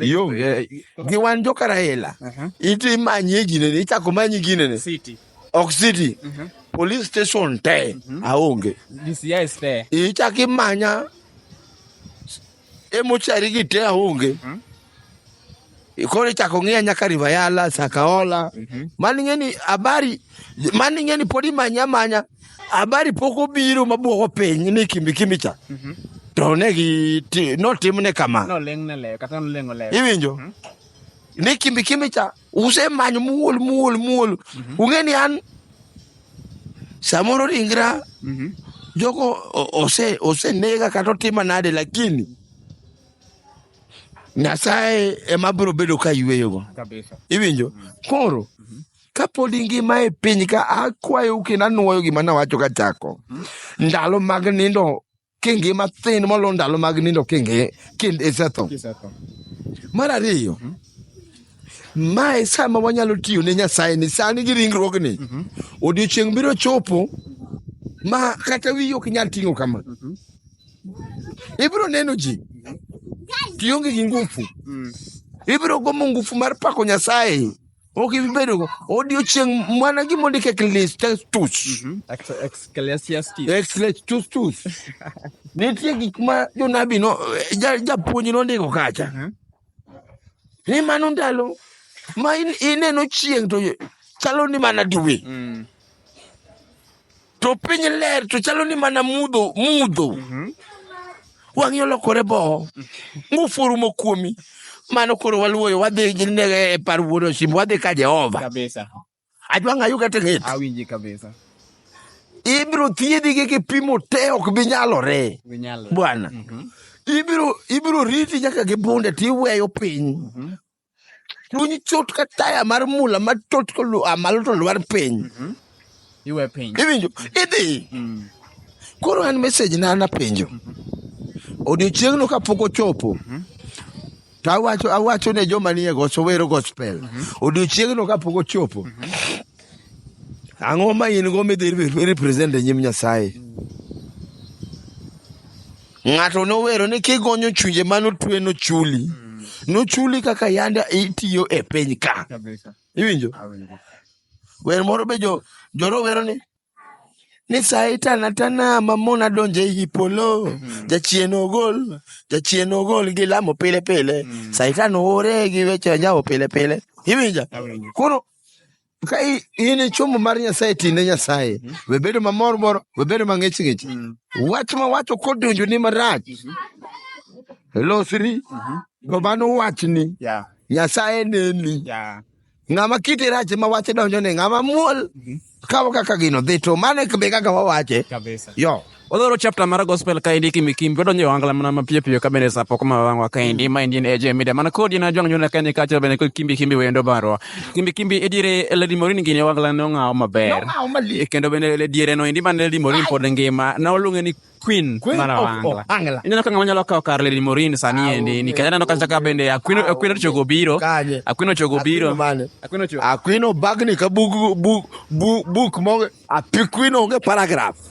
yonge gi wan jokarahela uh-huh. iti manye ginene ichako manyi ginene ok city uh-huh. police station te uh-huh. aonge ichako imanya e mochari gi te aonge hmm? koro ichako ng'iya nyaka Rivayala, Sakaola mm -hmm. mani ng'eni habari mani ng'eni pod imanya manya habari pok obiro mabwogo piny ni kimbi kimbi cha mm -hmm. to ne gi notimne kama no, kata iwinjo mm -hmm. ni kimbi kimbi cha usemanyo muol muol muol mhm. ung'e ni an samoro ringra mhm. jogo ose osenega kata otima nade lakini nyasaye ema biro bedo ka yweyogo iwinjo mhm. koro kapod ingima e piny ka akwayou kendo anwoyo gima nawacho ka chako ndalo mag nindo kingi mathin molo ndalo mag nindo kingi kind isetho mar ariyo mm -hmm. Mae sama wanyalo tiyo ne Nyasaye ni sani gi ringruogni. Mm -hmm. Odiochieng' biro chopo ma kata wiyi ok nyal ting'o kama. Mm -hmm. Ibiro neno ji tionge gi ngufu. Mm. Ibiro gomo ngufu mar pako Nyasaye. Ok ibi bedogo odiochieng' mana gima ondik Ecclesiastus. Mhm. Ex- Ecclesiastes. Ecclesiastus. tus. Nitie gik ma jonabi no ja- japuonj nondiko kacha. Mhm. Ni mano ndalo ma in- ineno chieng' to chalo ni mana diwe. Mm. to piny ler to chalo ni mana mudho mudho wang'i olokore boo ngufu orumo kuomi mano koro waluoyo wadhi gi ne- e par wuon osimbo wadhi ka jehova kabisa adwa ng'ayo kata ng'et awinji kabisa ibiro thiedhi gi kipimo te ok bi nyalore ginyalo bwana ibiro ibiro riti nyaka gi bunde tiweyo piny chuny chot ka taya mar mula ma tot koluwa malo to lwar piny iwe piny iwinjo idhi koro an message na napenjo odiochieng'no kapok ochopo to awacho awacho ne joma nie goso wero gospel odiochieng'no kapok ochopo ang'o ma in go midhi re- represent e nyim nyasaye Ng'ato nowero ni kigonyo chunje mano twe no chuli. No chuli kaka yanda itiyo e piny ka. Kabisa. Iwinjo? Awinjo. Wer moro be jo joro wero ni ni saitana tana mamona donje i polo jachien ogol jachien ogol gi lamo pile pile saitan ore gi weche nyawo pile pile iwinja Awinjo. koro ka i- in e chombo mar nyasaye tine nyasaye we bedo mamor mor we bedo mang'ich ng'ich wach ma wacho kodonjo ni marach losri to mano wachni Yeah. nyasaye neni Yeah. ng'ama kite rach ma wache donjo ni ng'ama muol kawo kaka gino dhi to mane be kaka wawache Kabisa. yo Wadwaro chapter mar gospel ka endi kimi kimi wadonjo e ohangla mana mapiyo piyo ka bende sa pok ma wang'wa ka endi ma endi en AJ Media mana kodi na jwang' nyona Kenya kacha bende kod kimbi kimbi wendo barwa kimbi kimbi ediere Lady Morin gini ohangla ne ong'awo maber Nong'awo malich. E kendo bende le- diere no endi mane Lady Morin pod ngima na oluonge ni Queen Queen mar of ohangla Ohangla. ineno ka ng'ama nyalo kawo kar Lady Morin sani endi nikech aneno kata ka bende Akwino Akwino Chogo biro Kanye. Akwino Chogo biro Akwino mane? Akwino Chogo Akwino bagni ka bug bug bug buk mo apikwino onge paragraph.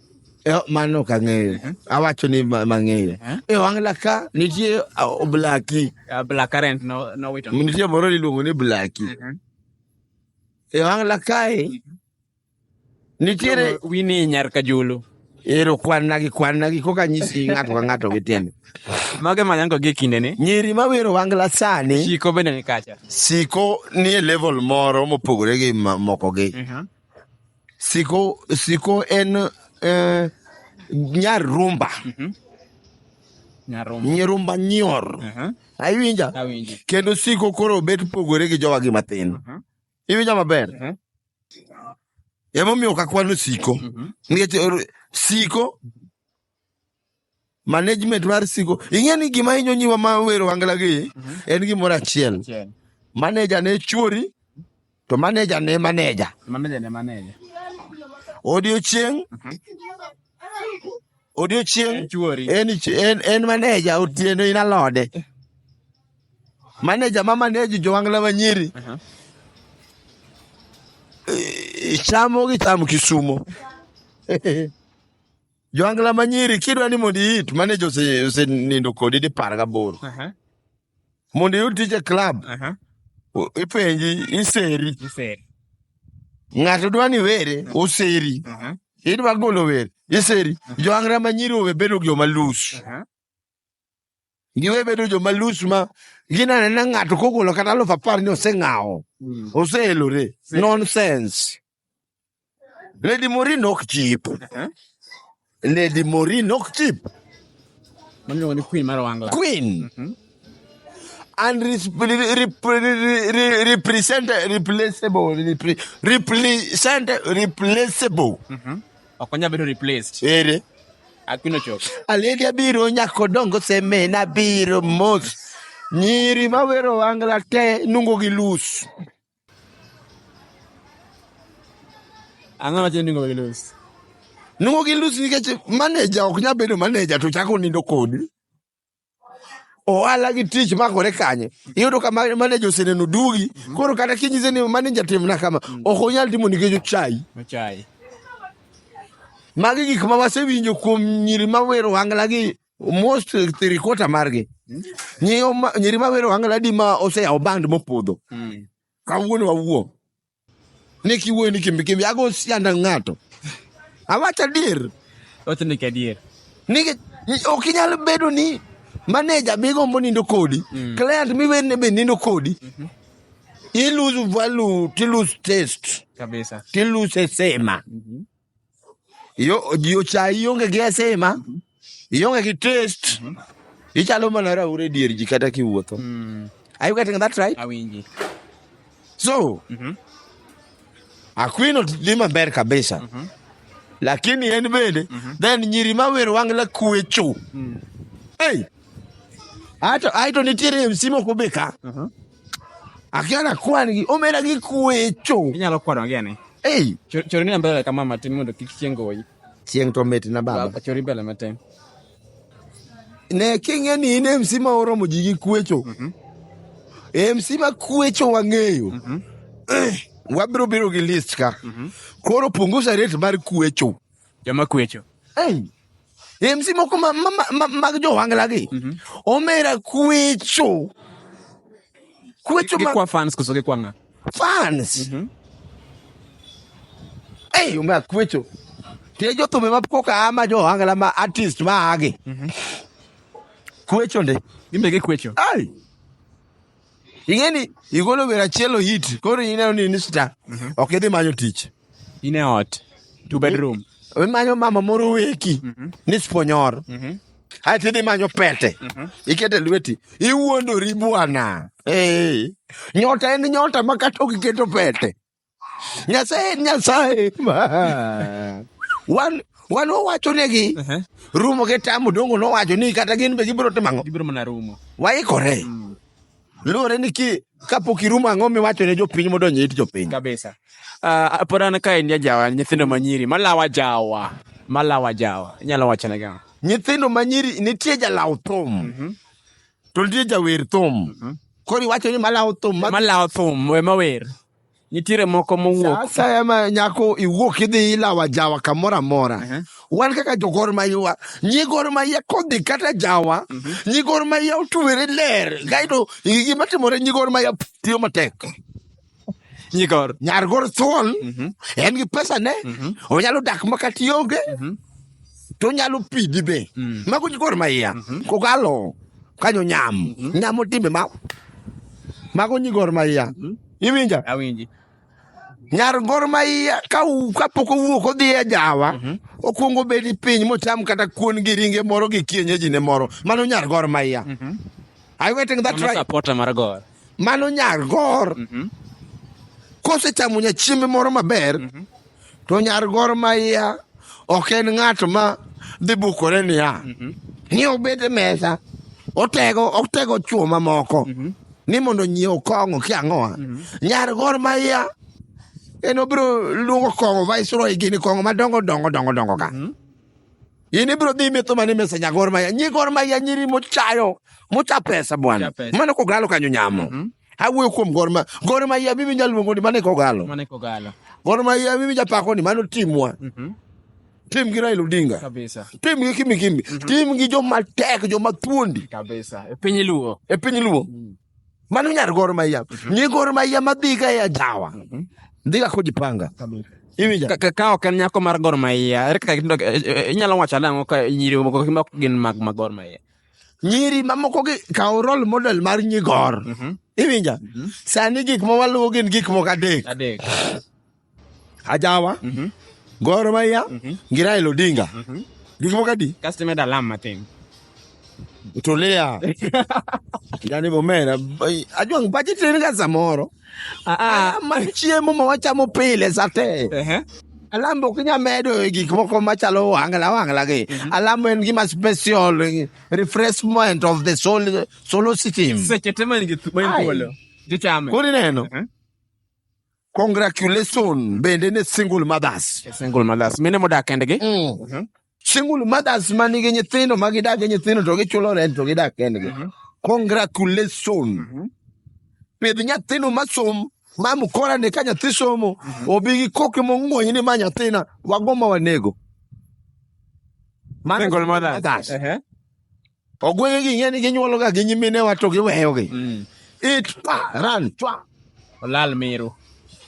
Eh, mano ok ang'eyo uh-huh. awacho ni mang'eyo uh-huh. e wang' laka nitie uh, blaki uh, nitie moro niluongo ni blaki uh-huh. e wang' lakae nitiere wini nyar kajulu ero kwanna gi kwanna gi koka nyisi ng'ato ka ng'ato gi tiende mage manyango gi kinde ni nyiri ma wero wangla sani siko bende ni kacha siko ni e level moro mopogore gi moko gi Siko, siko en eh, nyar rumba. Nyarombo. Nyirumba nyor. Aha. Aiwinja? Awinji. Kendo siko koro bet pogore gi jowa gi mathin. Aha. Iwinja maber? Aha. Emomiyo ok akwano siko. Mhm. Nikech or- siko management mar siko ing'e ni gima hinyo nyiwa ma wero wangla gi mhm. en gimoro achiel maneja ne chuori to maneja ne maneja maneja ne maneja odiochieng mhm. odiochieng en en en maneja otieno in alode maneja ma maneji jowangla manyiri mhm. eh, chamo gi cham kisumo Joangla ma nyiri kidwa ni mondo iit maneja ose- osenindo kodi dipar gaboro. Aha, Mondo iyud tich e club, aha, o- ipenji iseri. iseri. Ng'ato dwa ni were, oseri. Aha, Idwa golo were, iseri. Joangla ma nyiri owe bedo joma loose. aha, giwe bedo joma lus ma ginane na ng'ato kogolo kata aluf apar ni oseng'awo mm. oseelore nonsense lady morin ok chip eh? lady morin ok chip queen mar wangla queen mm -hmm. and replaceable replaceable mm -hmm. Ok onyal bedo replaced. Ere. Akuno chok. Aledi abiro nyako dongo seme na biro mos. Nyiri mawero wangla te nungo gi lus. Ang'o machielo ningo gi lus? Nungo gi lus nikech maneja ok nyal bedo maneja to chako nindo kodi. ohala gi tich makore kanye iyudo ka ma- maneja oseneno dugi koro kata kinyise ni maneja timna kama ok onyal timo nikech ochayi Ochai. magi gik ma wasewinjo kuom nyiri mawero wangla gi most three quarter margi Nyiyo ma- nyiri mawero wangla di ma oseyawo band mopodho kawuono wawuo Ni kiwuoyo ni kimbi kimbi, ago sianda ng'ato. Awacho adier. Owacho ni kadier. Ni ok inyal bedo ni maneja be gombo nindo kodi, mm. client miwene be nindo kodi. Mm-hmm. You lose value, you lose taste. Kabisa. You lose sema. Mm-hmm. Yo yo cha ionge gi asima. Mhm. Ionge gi taste. Mhm. Ichalo mana raure e dier ji kata kiwuotho. Mm. Are you getting that right? Awinji. So, mm -hmm. Aquino dhi maber kabisa. Mm -hmm. Lakini en bende mm -hmm. then nyiri ma wer wangla kwecho. Mm. Hey. Ato aito nitiere msimo kubika. Mm -hmm. Akiana kwani gi omera gi kwecho. Inyalo kwano agene. Ei. Chori ni mbele kama matin mondo kik chieng' goyi. Chieng' to mit na baba. Chori mbele matin. Ne king'e ni in MC ma oromo ji gi kwecho. Mhm. MC ma kwecho wang'eyo. Mhm. Eh, wabiro biro gi list ka. Mhm. Koro punguza rate mar kwecho. Joma kwecho. Ei, MC moko ma- ma- ma- ma- mag jowangla gi omera kwecho kwecho ma Gikwa fans koso gikwa ng'a? fans ei omera kwecho tie jothumbe ma koka ama jowangla ma artist ma agi kwecho ndi Gin be gikwecho. ai ing'eni igolo wer achiel ohit koro ineno ni ni star ok idhi manyo tich in e ot two bedroom imanyo mama moro weki ni sponyoro ae tidhi imanyo pete ikete lweti iwuondori bwana Eh, nyota en nyota ma kata ok iketo pete nyasaye en nyasaye Ma. wan wan owacho negi Ehe. rumo gi tamo dongo nowacho ni kata gin be gibiro timo ang'o gibiro mana rumo waikore luwore ni ki kapok irumo ang'o miwacho ne jopiny modonjo it jopiny kabisa uh, pod an ka en jajawa nyithindo manyiri malawa jawa malawa jawa inyalo wacho ne gama nyithindo manyiri nitie jalaw thum mhm. to nitie jawer thum mhm. koro iwacho ni malaw thum malaw thum ema wer nitiere moko mowuok asaya ma nyako iwuok idhi ilawa jawa kamoro amora uh -huh. wan kaka jogor maywa nyigor maya kodhi kata jawa uh mhm. -huh. nyigor maya otwere ler kaeto gima timore nyigor maya tiyo matek nyigor nyargor thuon uh mhm. -huh. en gi pesa ne uh mhm. -huh. onyalo dak makatiyonge uh -huh. to onyalo pidhi be mm. mago jikor maiya mhm. kokalo kanyo nyam mhm. nyamo timbe ma mago nyi gor maiya mhm. iwinja awinji nyar gor maiya ka kapok owuok odhi e jawa okuongo bedi piny mocham kata kuon gi ringe moro gi kienyeji ne moro mano nyar gor maiya Are you getting that right? Supporter mar gor. Mano nyar gor. Mm -hmm. Kosechamo nya chiembe moro maber. Mm -hmm. to nyar gor ma iya ok en ng'at ma dhi bukore niya ni obed e mesa otego otego chwo mamoko ni mondo nyiew kong'o ki ang'owa nyar gor ma iya en obiro luongo kong'o viceroy gini kong'o madongo dongo dongo dongo ka in ibiro dhi metho mane mesa nya gor ma iya nyi gor ma iya nyiri mochayo mocha pesa bwana Mocha pesa. mano kogalo kanyo nyamo Mhm. awuoyo kuom Gor Mahia Gor Mahia mimi nyaluongo ni mane kogalo Mane kogalo. Gor Mahia mimi japako ni mano timwa Mhm. tim gi Raila Odinga Kabisa. tim gi Kimi Kimi tim gi joma tek joma thuondi Kabisa. E piny Luo. e piny Luo mano nyar Gor Mahia nyi Gor Mahia madhiga e ajawa dhiga kojipanga Kabisa. iwinja Ka- ka- Ka ok en nyako mar Gor Mahia, ere kaka gindo- eh, eh, inyalo wacho nang'o ka nyiri moko mok gin mag ma Gor Mahia? nyiri mamoko gi kawo role model mar nyigor iwinja sani gik ma waluwo gin gik moko adek Adek. ajawa gor maya gi raila odinga gik moko adi Kasto imedo alam matin. tulia yani bomera ajwang' pache tin ga samoro Ah, ah. Alam mar chiemo ma wachamo pile sate. Ehe. Alam ok inyal medo e gik moko machalo wangla wangla gi. Alam en gima special eh, refreshment of the soul solar system. Seche te man gi thu- man Ai. thuolo. Tichame. Kori neno. Mhm. Congratulations bende ne single mothers. Single mothers. Mine modak kendgi. Mm. single mothers ma nigi nyithindo ma gidak gi nyithindo to gichulo rent to gidak kendgi Mhm. congratulation Mhm. pidh nyathino masom ma mkora ni ka nyathi somo obi gi koke mong'wony ni ma nyathina wago ma wanego Mano- Single mothers. Ehe. Ogwenge gi ing'e ni ginyuologa gi nyiminewa to giweyogi. Mm. It pa ran chwa. Olal miru.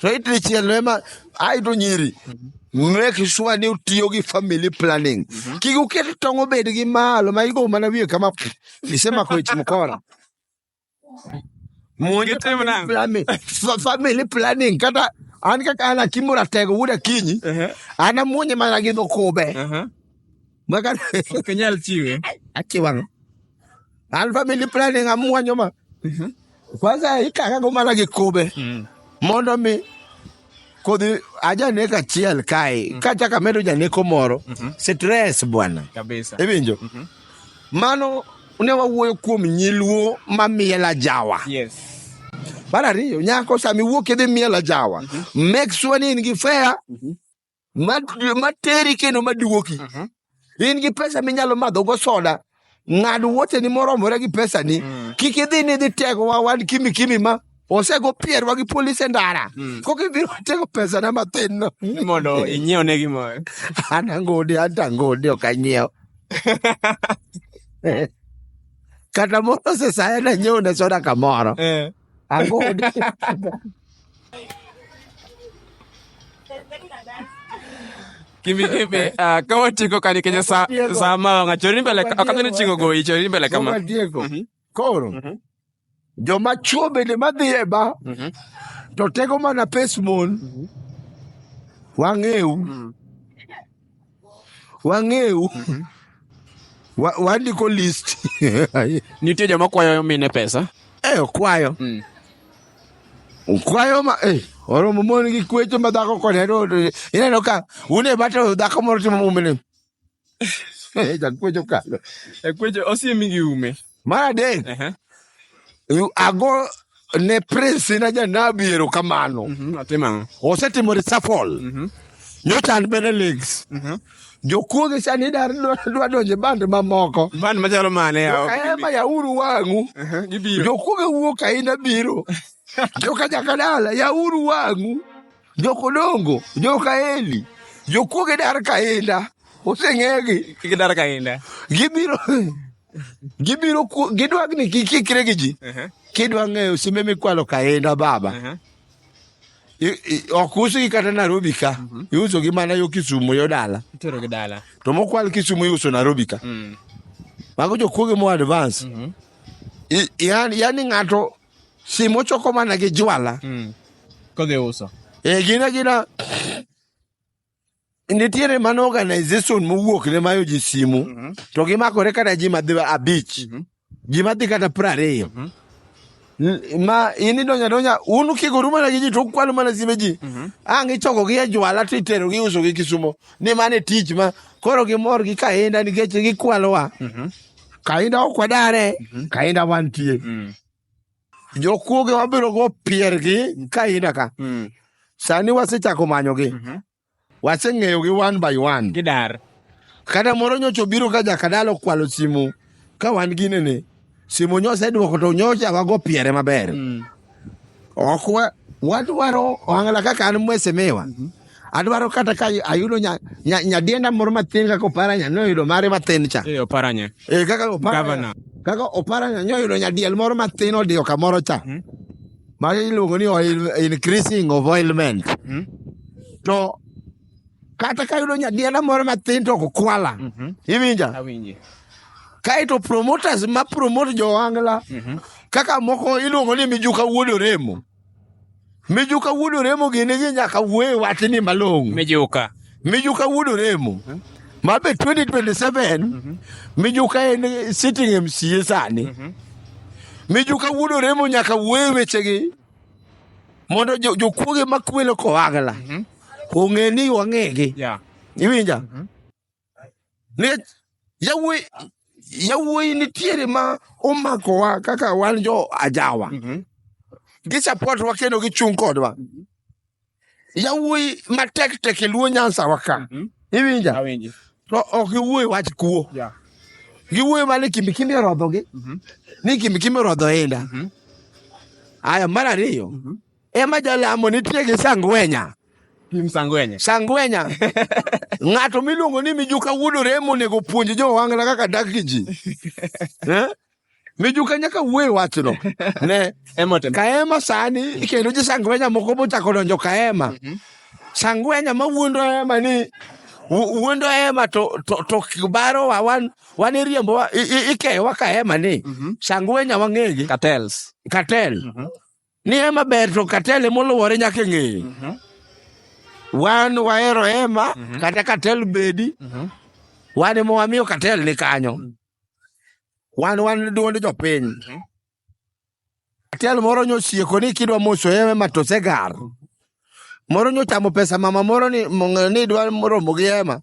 To it dichiel no ema aito nyiri. Mm-hmm. Make sure ni utiyo gi family planning. Mm-hmm. Kik uket tong' obed gi malo ma igo mana wiye kama isemako ich mkora. Monj otimo nang'o? Planning. Fa- family planning kata an kaka an akimo ratego wuod akinyi Ehe, an amuonye mana gi dhokube aha. maka Ok inyal chiwe. achiwang an family planning amuonyo ma kwanza ikakago mana gi kube mondo mi kodhi ajanek achiel kae mm. kachaka medo janeko moro mm -hmm. stress bwana iwinjo mm -hmm. mano ne wawuoyo kuom nyiluo ma miela jawa yes. mar ariyo nyako sami wuok idhi miela jawa mm -hmm. make sure ni in gi fea mm -hmm. ma, ma teri kendo ma duoki Mhm. in gi pesa minyalo madho go soda ng'ad wuoteni moromore gi pesani Mm. kik idhi ni idhi tego wa wan kimi kimi ma osego pierwa gi polis e ndara Mm. kok ibiro tego pesana mathin no mondo inyiew ne gimoro an angode an to angode ok anyiew kata moro sesaya nanyiew ne soda kamoro Eh. Ango Kimbi kimbi ah kawa chiko kani kenya sa sa ma nga chori mbele ka kani chingo go chori mbele kama. Kama Diego. Mm -hmm. Koro. Mm -hmm. Jo machuo bende madhi e ba. Mm -hmm. To tego mana pesmon. Mm -hmm. Wang'eu. Mm -hmm. wang'eu Wa- wandiko list Nitie joma kwayo mine pesa. eh okwayo Mm. okwayo ma eh oromo mon gi kwecho ma dhako kod hero ineno ka une bato dhako moro timo mumene eh jakwecho kalo Ekweche osiemi gi ume. mar adek Ehe. yu- ago ne prince na janabi erokamano Mhm, atimo ang'o? osetimo resafol Mhm, nyocha an bende legs mhm. jokuoge sani dar dwa donje band mamoko Band machalo mane yawa? ema yauru wang'u Ehe, gibiro. jokuoge wuok aina biro joka jakadala yauru wang'u jokodongo joka eli jokuoge dar kainda oseng'egi Kik idar kainda. gibiro gibiro gidwa ni kikikre gi ji kidwa ng'eyo simbe mikwalo kaenda baba ok usgi kata Nairobi ka mhm. iusogi mana yo Kisumu yo dala to mokwal Kisumu iuso Nairobi ka mm. mago jokuoge mo advance mhm. yani ng'ato simu ochoko mana gi jwala mm. kodhi uso e gina gina nitiere mana organization mowuok ne mayo ji simu Mhm. to gimakore kata ji madhi abich Mhm. ji madhi kata piero ariyo Mhm. N- ma in idonyo adonja un kigoru mana gi ji to ukwalo mana simbe ji Mhm. ang' ichokogi e jwala to iterogi iusogi kisumo ni mano e tich ma koro gimor gi kahinda nikech gikwalowa Mhm. kahinda ok wadare kahinda wantie Mm. Jokuoge wabiro go piergi ka ina ka. Mm. Sani wasechako manyogi. Mm -hmm. Waseng'eyo gi one by one. Gidar. Kata moro nyocha obiro ka jakadalo kwalo simu ka wan gine ni simu nyosa idwoko to nyocha wago piere maber. Mm. Ok wadwaro ohangla kaka an mwesemiwa. Mm -hmm. adwaro kata ka ayudo nyadienda moro mathin kaka oparanya noyudo mare mathin cha eh, oparanya eh, kaka oparanya kaka oparanya nyoyudo nyadiel moro mathin odiyo kamoro cha hmm? ma iluongo ni oil increasing of oilment hmm? to kata ka yudo nyadienda moro mathin to ok kwala mm -hmm. iwinja kaeto promoters ma promote jowangla mm -hmm. kaka moko iluongo ni mijuka wuod oremo Mijuka wuod Oremo gini gi nyaka wuoye wachni malong'o. Mijuka. Mijuka wuod Oremo. Mabe 2027 mhm. Mijuka en sitting MCA sani. Mhm. Mijuka wuod Oremo nyaka wuoye wechegi mondo jokuoge makwelo kowagla mhm. ong'e ni wang'egi. Iwinja? nikech yawuoyi yawuoyi nitiere ma omakowa kaka wan jo ajawa Mhm. gisapotwa kendo gichung' kodwa yawuoyi matek tek e luo nyansawa ka Mhm. iwinja Awinji. to ok giwuoyo wach kuo Yeah. giwuoyo mana ni kimbikimbi orodhogi Mhm. ni kimbikimbi orodho inda Mhm. aya mar ariyo Mhm. Ema jalamo nitie gi Sangwenya. Kim Sangwenya. Sangwenya. Ng'ato miluongo ni Mijuka Wuod Oremo onego puonj jo Ohangla kaka dak gi ji. Eh? Mijuka nyaka wuoye wachno. Ne. Emotem. Kaema sani kendo ji Sangwenya moko bochako donjo Kaema. Mm -hmm. Sangwenya ma wuondo Ema ni wuondo ema to to to kibaro wa wan wan iriembo wa ikeyo wa ka ema ni mm -hmm. sangwenya wang'egi cartels cartel mm -hmm. Ni hema ber to katele moluwore nyaka ng'eye. Mhm. Wan wahero hema mhm. kata katel bedi. Mhm. Wan ema wamiyo katel ni kanyo. Wan wan duond jopiny. Katel moro nyosieko ni kidwa moso hema to segar. moro nyo chamo pesa mama moro ni mong- ni dwa romo gi ema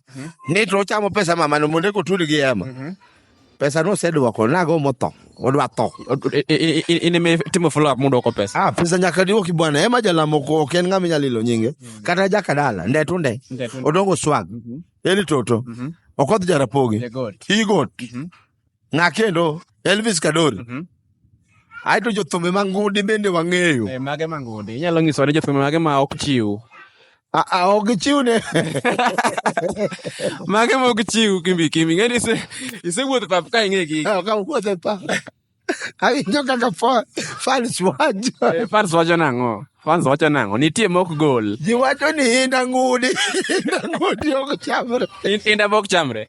ni to ochamo pesa mama no mondo ekotudi gi ema pesa no osedwoko nago motho odwa tho I- i- i- in ime timo follow up muduoko pesa ah pesa nyaka diwoki bwana ema jalamo ko ok en ng'ama inyalo ilo nyinge kata jakadala nde to nde Nde to nde. odongo swag eli toto okoth jarapogi Jagot. igot Ng'a kendo? Elvis Kadori. Mhm. Aeto jothumbe mangundi bende wang'eyo. Eh, mage mangundi. Inyalo nyiso ni jothumbe mage ma ok chiw. Ah, ah, ok gichiw ne. mage ma ok chiw kimbi kimbi. Ng'e ni ise isewuotho e pap ka ing'e gi. Ah, ka wuotho e pap. Awinjo kaka fans wacho. Eh, fans wacho nang'o? Fans wacho nang'o? Nitie mok gol. Ji wacho ni inda ngudi. Inda ngudi ok chamre. Inda mok chamre.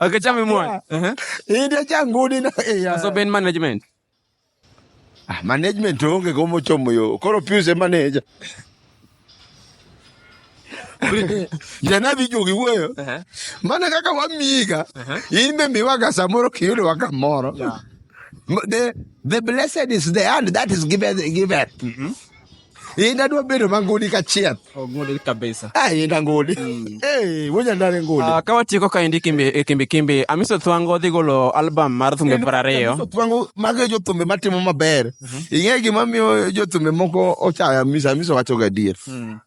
Okay, chame mwana. Eh. Hii ndio changu ni na. Eh, so Ben management. Ah, management onge komo chomo yo. Koro piuse manager. jana vijo giwuoyo uh-huh. mana kaka wamiga uh-huh. in be miwaga samoro kiyudo waka moro the, the blessed is the hand that is given, given. Mm-hmm. Inda dwa bedo mangudi ka chieth. Ongudi kabisa. Ah, inda ngudi. Mm. Eh, wonya ndare ngudi. Ah, kawa tieko ka indi kimbi e kimbi kimbi. Amiso Thwango dhi golo album mar thumbe para reyo. Amiso Thwango mago jo thumbe matimo maber. Mhm. Ing'e gima miyo jo thumbe moko ochaya Amiso Amiso wacho gadier. Mm.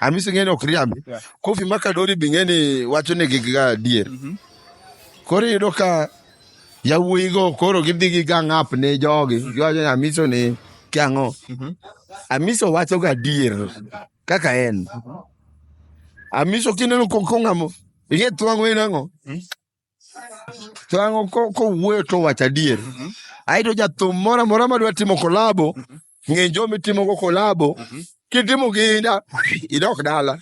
Hamisi ng'eni ok riambi. Yeah. Kofi Makadori be ng'eni wacho ni gig ga adier. Mm -hmm. Koro iyudo ka yawuoyi go koro gidhi gi gang up ne jogi. Mm -hmm. Giwacho ni Hamisi ni kiang'o. Mm -hmm. Hamisi wacho ga adier kaka en. Mm -hmm. Hamisi kineno kong'amo. Ing'e twang'o inang'o. Mm -hmm. to ang'o kowuoyo to wacho adier mhm. aito jathum moro amora madwa timo kolabo mhm. ng'e jo mitimogo kolabo mhm. kitimo ginda idok dala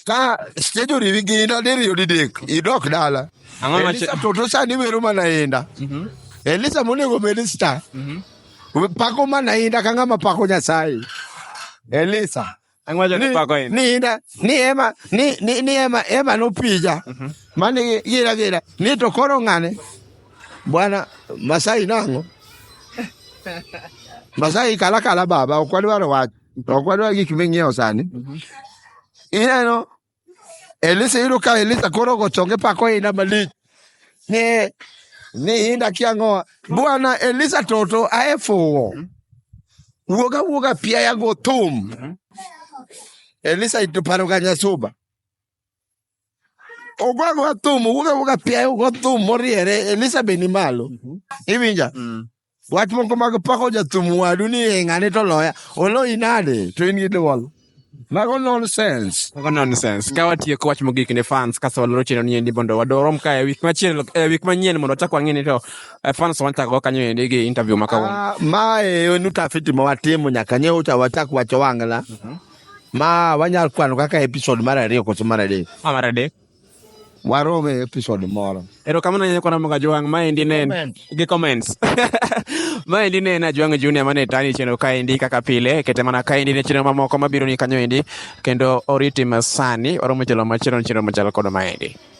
ka stage oriwi ginda diriyo didek idok dala elisa toto sani wero mana inda elisa monego bed star pako mana inda ka ng'ama pako nyasaye elisa Ang'wajo ni pako in. Ni ina, ni ema, ni, ni, ni ema, ema no pija. Mm -hmm. Mani gira gira, ni to koro ng'ane. Bwana Masai nango. Masai kala kala baba, okwadwaro wach. Okwadwaro gik ming'iewo sani. Mm -hmm. Ineno, Elisha yudo ka Elisha koro ogochonge pako ina malich. Ni ni inda kiangoa. Bwana Elisha toto aefuwo. Wuoga wuoga pia ya go thum. Elisha ituparo ganya suba. Ogwa go thum, wuoga wuoga pia ya go thum moriere. Elisha beni malo. Iwinja? Wach moko mag pako jathum wadu ni "Eh, ng'ane to loya. Oloyi nade? To in gi dwol. Mago nonsense. Mago nonsense. Ka watieko wach mogik ne fans kasto waloro chenro ni endi mondo wadorom ka e week machielo e week manyien mondo wachak wang'e ni to eh, fans wanchako go kanyo endi gi interview ma kawuono. Ah, ma e en utafiti ma watimo nyaka nyewo cha wachak wacho wang'la. Ma wanyal kwano kaka episode mar ariyo koso mar adek. Ma mar adek. Warome e episode moro. Erokamano ahinya kwana moga Jwang'. Maendi ne en gi comments. Maendi ne en Ajwang' Junior mane tani chenro kaendi kaka pile. Kete mana kaendi ne chenro mamoko mabiro ni kanyo endi kendo oriti masani oromo jalo machielo chenro machalo kod maendi.